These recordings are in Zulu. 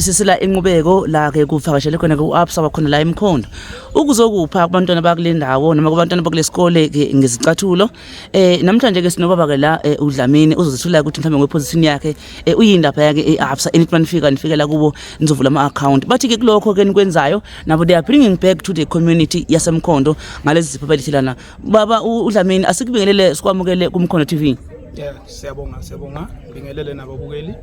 sisila inqubeko la ke kuvakashele khona ke uAbsa wakhona la emkhondo ukuzokupha kubantwana bakule ndawo noma kubantwana bakule sikole ke ngezicathulo eh namhlanje ke sinobaba ke la eh, uDlamini uzozithula ukuthi mhlawumbe ngweposition yakhe eh, uyindaba yake eAbsa enithi manifika nifikela kubo nizovula ama account bathi ke kulokho ke nikwenzayo nabo they are bringing back to the community yasemkhondo ngalezi zipho belithelana baba uDlamini asikubingelele sikwamukele kumkhondo TV yeah siyabonga siyabonga bingelele nababukeli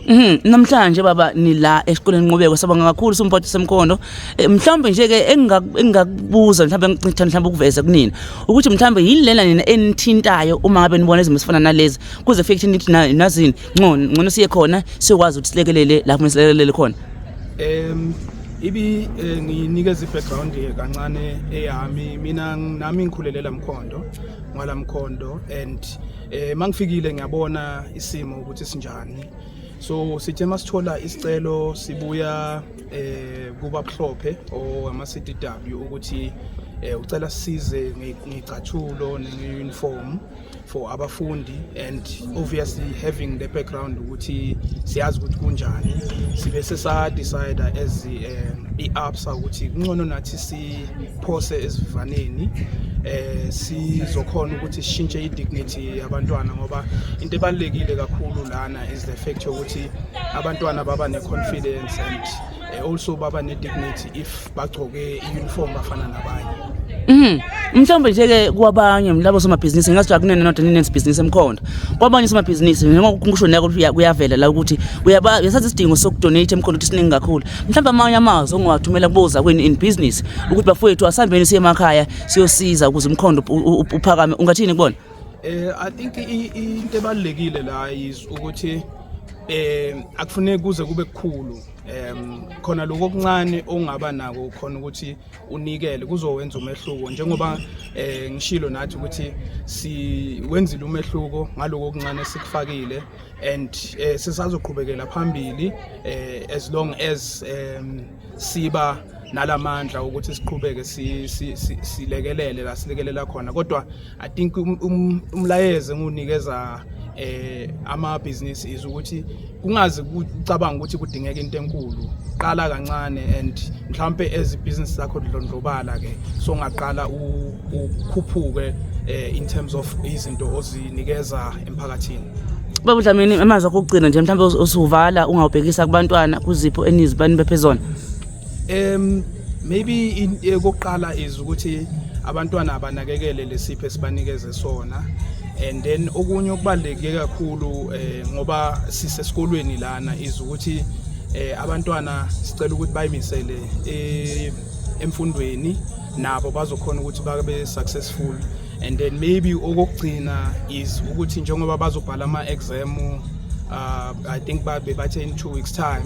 Mhm namhlanje baba nila esikoleni nqubeko sabonga kakhulu sumphathi semkhondo eh, mhlawumbe nje ke engingakubuza mhlawumbe ngithanda mhlawumbe ukuveza kunina ukuthi mhlawumbe yilena nina enithintayo uma ngabe nibona izimo sifana nalezi kuze fike nithi nazini ngcono ngcono siye khona sikwazi ukuthi silekelele lapho silekelele khona em ibi eh, nginikeza i-background kancane eyami mina nami ngikhulelela mkhondo ngwalamkhondo and Eh mangifikile ngiyabona isimo ukuthi sinjani. So sithe masithola isicelo sibuya eh kuba buhlophe o ama CDW ukuthi eh ucela size ngicathulo ne-uniform for abafundi and obviously having the background ukuthi siyazi ukuthi kunjani sibe sesa decide as eh, i-absa ukuthi kungcono nathi si phose esivivaneni eh sizokhona ukuthi sishintshe i-dignity yabantwana ngoba into ebalulekile kakhulu lana is the fact yokuthi abantwana baba ne-confidence and eh, also baba ne-dignity if bagcoke i-uniform bafana nabanye Mhm. Mhlawumbe nje ke kwabanye labo somabhizinisi ngingathi akunene not nene business emkhonda. Kwabanye somabhizinisi njengoba kusho nako kuyavela la ukuthi uyasazi isidingo sokudonate emkhonda ukuthi siningi kakhulu. mhlawumbe amanye amazwi ongawathumela kubozakwenu in business ukuthi bafowethu asihambeni siye emakhaya siyosiza ukuze umkhondo uphakame ungathini kubona eh i think into ebalekile la is ukuthi eh akufuneki kuze kube kukhulu em khona lokho okuncane ongaba nako khona ukuthi unikele kuzowenza umehluko njengoba eh ngishilo nathi ukuthi si wenzile umehluko ngaloko okuncane sikufakile and eh, sisazoqhubekela phambili eh, as long as um, siba nalamandla ukuthi siqhubeke silekelele la silekelela khona kodwa i think um, um, umlayezo engunikeza eh ama business is ukuthi kungazi kucabanga ukuthi kudingeka into enkulu qala kancane and mhlambe as business lakho lidlondlobala ke so ngaqala ukhuphuke eh, in terms of izinto ozinikeza emphakathini baba udlamini emazwi akho okugcina nje mhlawumbe usuvala ungawubhekisa kubantwana kuzipho enizibani bephezona um maybe eh, kokuqala is ukuthi abantwana abanakekele lesipho esibanikeze sona and then okunye okubaluleke kakhulu eh, ngoba sisesikolweni lana is ukuthi eh, abantwana sicela ukuthi bayimisele eh, emfundweni nabo bazokhona ukuthi babe successful and then maybe okokugcina is ukuthi njengoba bazobhala ama-exam uh, i think babe bathe in two weeks time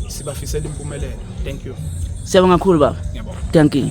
sibafisela impumelelo thank you siyabonga kakhulu baba thank you